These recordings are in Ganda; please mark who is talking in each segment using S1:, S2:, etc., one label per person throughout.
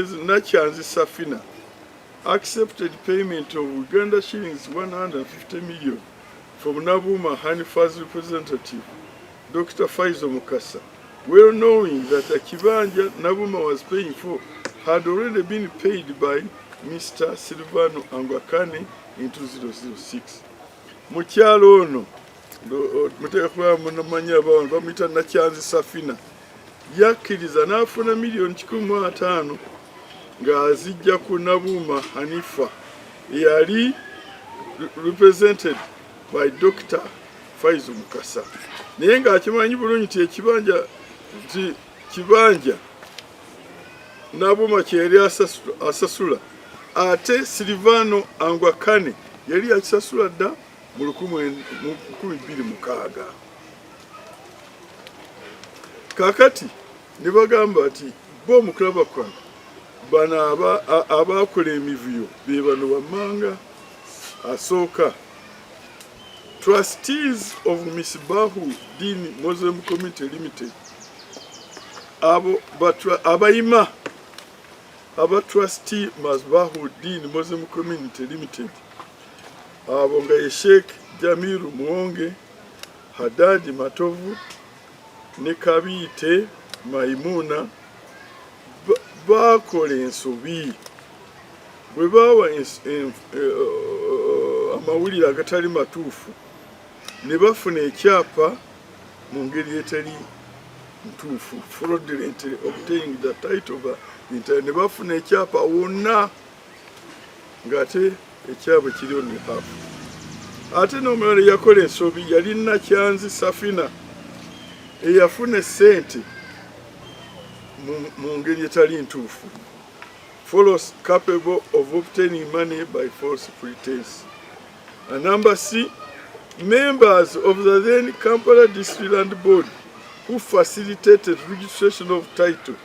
S1: Mrs. Nakyanzi Safina accepted payment of Uganda shillings 150 million from Nabuma Hanifa's representative, Dr. Faizo Mukasa, well knowing that Akibanja Nabuma was paying for had already been paid by Mr. Silvano Angwakane in 2006. Mukyalo ono muteekwa munamanya abawantu bamuyita Nakyanzi Safina yakkiriza n'afuna miliyoni kikumi mu ataano ng'azijja ku Nabuuma Hanifa eyali represented by Dr. Faizu Mukasa naye ng'akimanyi bulungi nti ekibanja nti kibanja Nabuuma kye yali asasula ate Silvano Angwakane yali yakisasula dda mu lukumi bbiri mukaaga kakati ne bagamba nti bo omukulaba kwano bano abaakola emivuyo be bano wammanga asooka trustees of misbahu din muslim community limited abo abayima aba trustee misbahu din muslim community limited abo nga ye sheikh jamiru muwonge Hadadi Matovu ne Kabiite Maimuna baakola ensobi bwe baawa eh, eh, amawulire agatali matuufu ne bafuna ekyapa mu ngeri etali ntuufu fraudulently obtained the title ne bafuna ekyapa wonna ng'ate ekyabwe kiriyo ne haafu ate n'omulala eyakola ensobi yali nakyanzi safina eyafuna esente mu ngeri etali ntuufu follows capable of obtaining money by false pretense a number c members of the then kampala district land board who facilitated registration of title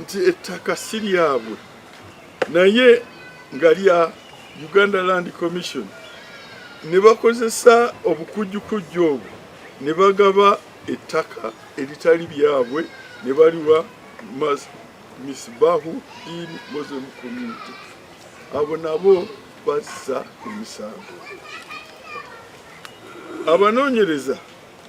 S1: nti ettaka si lyabwe naye nga lya Uganda Land Commission ne bakozesa obukujjukujju obwo ne bagaba ettaka eritali byabwe ne baliwa Misbahu Deen Muslim Community abo nabo bazza emisango abanoonyereza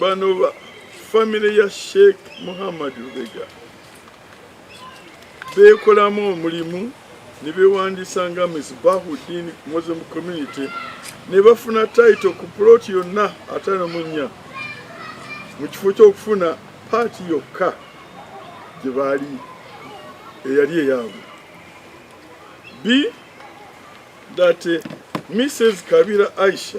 S1: bano ba famire ya sheikh muhammad lubega beekolamu omulimu ne beewandiisa nga misbahudin muslim community ne bafuna taito ku puloti yonna atano mu nnya mu kifo ky'okufuna paati yokka gye baali eyali eyaabwe b that uh, mrs kabira aisha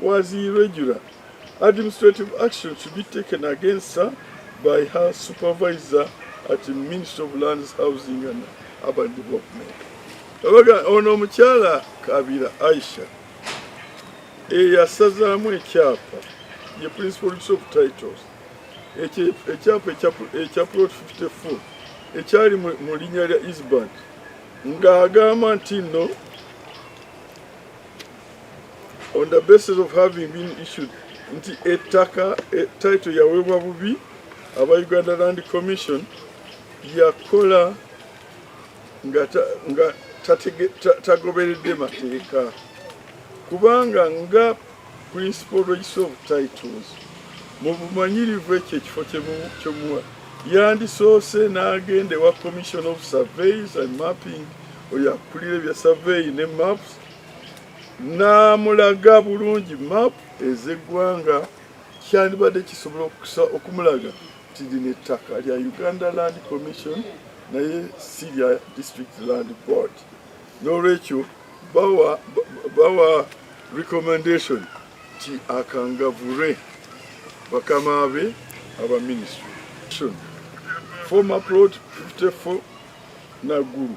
S1: was irregular. Administrative action should be taken against her by her supervisor at the Ministry of Lands, Housing and Urban Development. Abaga ono omukyala Kabira Aisha eyasazaamu ekyapa ye principal of titles ekyapa ekya plot 54 ekyali mu linnya lya Isband ng'agamba nti nno on the basis of having been issued nti ettaka e, title yaweebwa bubi aba Uganda Land Commission yakola nga tagoberedde mateeka kubanga nga principal register of titles mu bumanyirivu ekyo ekifo kyomuwa yandisoose n'agenda ewa commission of surveys and mapping oyo akulira ebya survey ne maps n'amulaga bulungi maapu ez'eggwanga kyandibadde kisobola okusa okumulaga nti lino ettaka lya uganda land commission naye si lya district land board n'olwekyo bawa, bawa recommendation ti akangavure bakama be aba ministry former plot 54 nagulu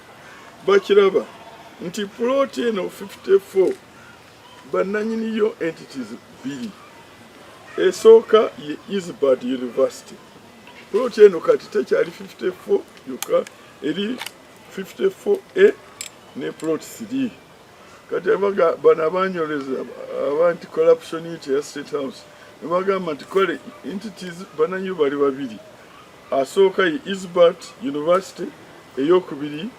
S1: bakiraba nti plot eno 54 bananyini yo entities bbiri esooka ye Isbad University plot eno kati tekyali 54 yoka eri 54A ne plot 3 kati abaga bana banyoleza abantu corruption ya state house bagamba nti kale entities bananyo bali babiri asooka ye Isbert University eyokubiri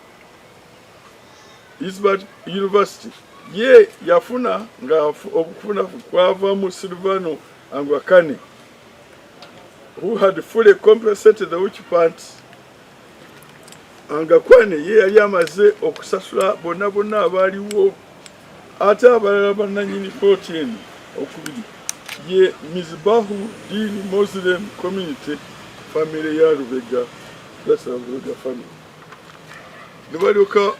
S1: Isbert University ye yafuna nga okufuna kwava mu Silvano Angwakane who had fully compensated the witch party Angakwane ye yali amaze okusasula bonna bonna abaaliwo Ate abalala bannanyini kkooti eno okubiri ye Mizbahu Deen Muslim Community famire ya Lubega Plaza Lubega famire ne balyoka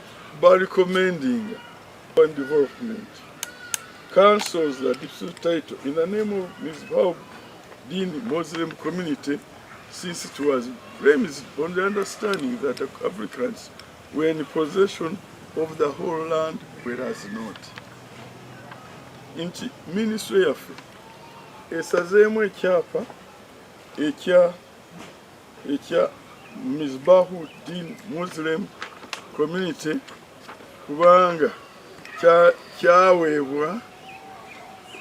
S1: balikomendinga and development councils the dispute title in the name of Mizbahu Deen Muslim Community since it was premised on the understanding that applicants We're in possession of the whole land whereas not nti ministry yaffe esazeemu ekyapa ekya ekya mizbahu din muslim community kubanga kyaweebwa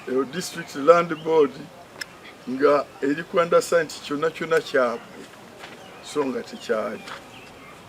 S1: eh, district land board nga eri kwandasa nti kyonna kyonna kyabwe so nga tekyali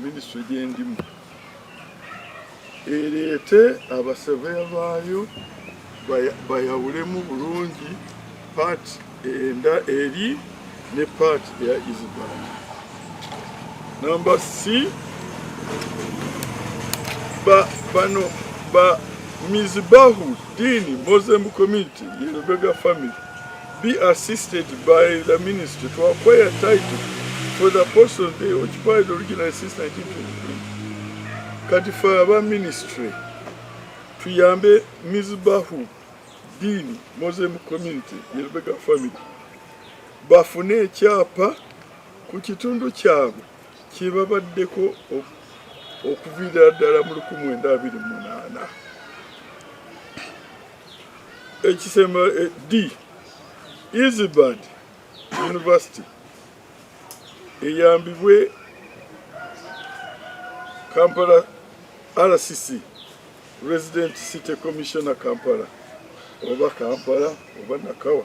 S1: minisitule gyendimu ereete abasaveya baayo bayawulemu bulungi paati enda eri ne paati eya isbal namba c bano ba mizibahu dini muslim community yelobega family be assisted by the ministry to acquire title for the portion they occupied originally since 1923. Kati for our ministry, tuyambe Mizbahu Dini Muslim community, Yelbega family, bafune ekyapa ku kitundu kyabwe kyebabaddeko okuviira ddala mu 1928. ekisemba eh, d easybad university eyambibwe kampala rcc resident city commissioner kampala oba kampala oba nakawa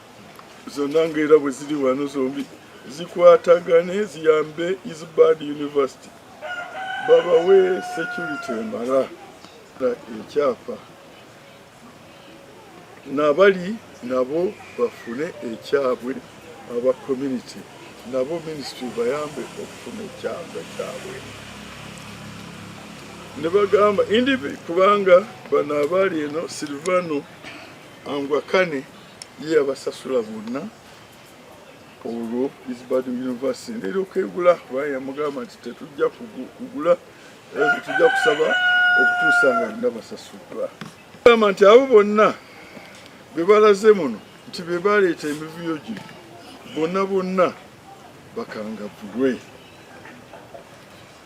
S1: zonna ngaera bwe ziri wano zombi zikwatagane ziyambe isbad university babawe security emala ekyapa nabali nabo bafune ekyabwe aba community nabo ministry bayambe okufuna ekyapa kyabwe ne bagamba indi kubanga bano abaali eno silvano angwakane ye yabasasula bonna olwo isbadu university nera okegula kuba yamugamba nti tetujja kugula tujja kusaba okutuusa nga nina basasulwa gamba nti abo bonna bebalaze muno nti bebaleeta emivuyo gino bonna bonna bakangavulwe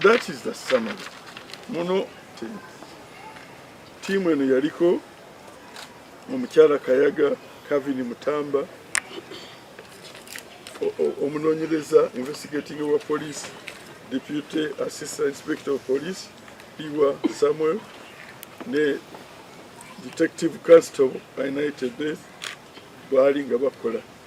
S1: That is the summary. Muno tiimu eno yaliko omukyala Kayaga Kavini Mutamba omunonyereza investigating wa police deputy assistant inspector of police Iwa Samuel ne detective constable United Death baali nga bakola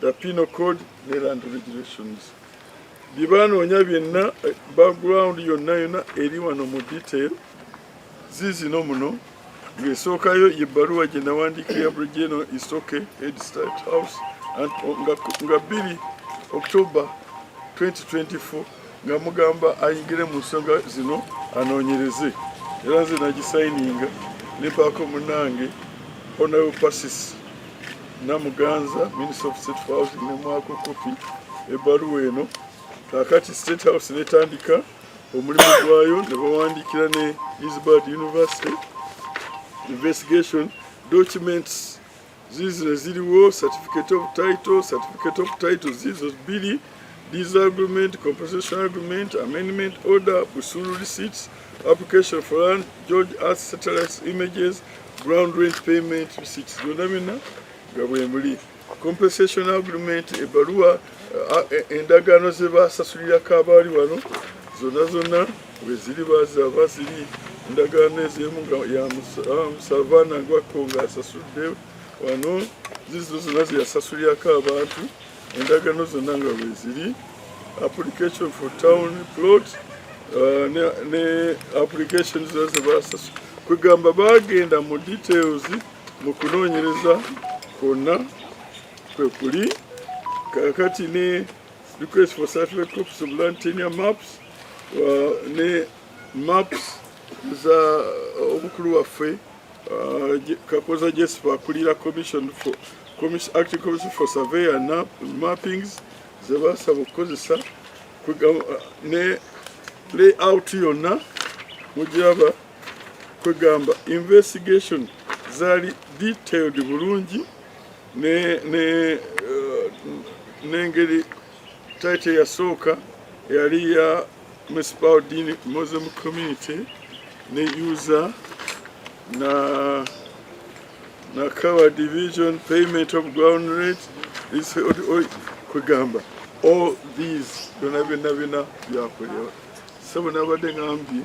S1: the penal code ne land regulations bye banoonya byenna eh, background yonna yonna eri wano mu detail ziizino muno ng'esookayo ye bbaluwa gye nawandiika ya brigeno isoke head start house nga bbiri october 2024 nga mugamba ayingire mu nsonga zino anoonyereze era nze nagisayininga ne baako munange honorable pasis namuganza minister of state for housing nemwako kopi ebbaluwa eno kakati state house netandika omulimu gwayo ne bawandiikira ne isbard university investigation documents zizino ziriwo certificate of title certificate of title zizo bbiri disagreement compensation agreement amendment order busulu receipts application for land george earth satellites images ground rent payment receipts byonna byonna nga bwemuli compensation agreement ebaluwa E, endagaano ze baasasulirako abaali wano zonna zonna weziri bazaba ziri endagaano ez'emu nga ya musavaana ah, gwakko ng'asasudde wano zizo zonna zeyasasulirako abantu endagaano zonna nga weziri application for town plot ah, ne application zona ze basasu kwegamba baagenda mu details mu kunoonyereza kwonna kwekuli kakati ne request for satellite copies of land tenure maps uh, ne maps za uh, omukulu waffe uh, kakoza jesipa akulira commission for commission, acting commission for survey and mappings zebasaba okukozesa uh, ne layout yonna mugiraba kwegamba investigation zali detailed bulungi n'engeri uh, taite yasooka yali ya municipal dini muslim community ne usa na nakawa division payment of ground rate kwegamba all these byona byona byona byakolewa sebo nabadde ngambye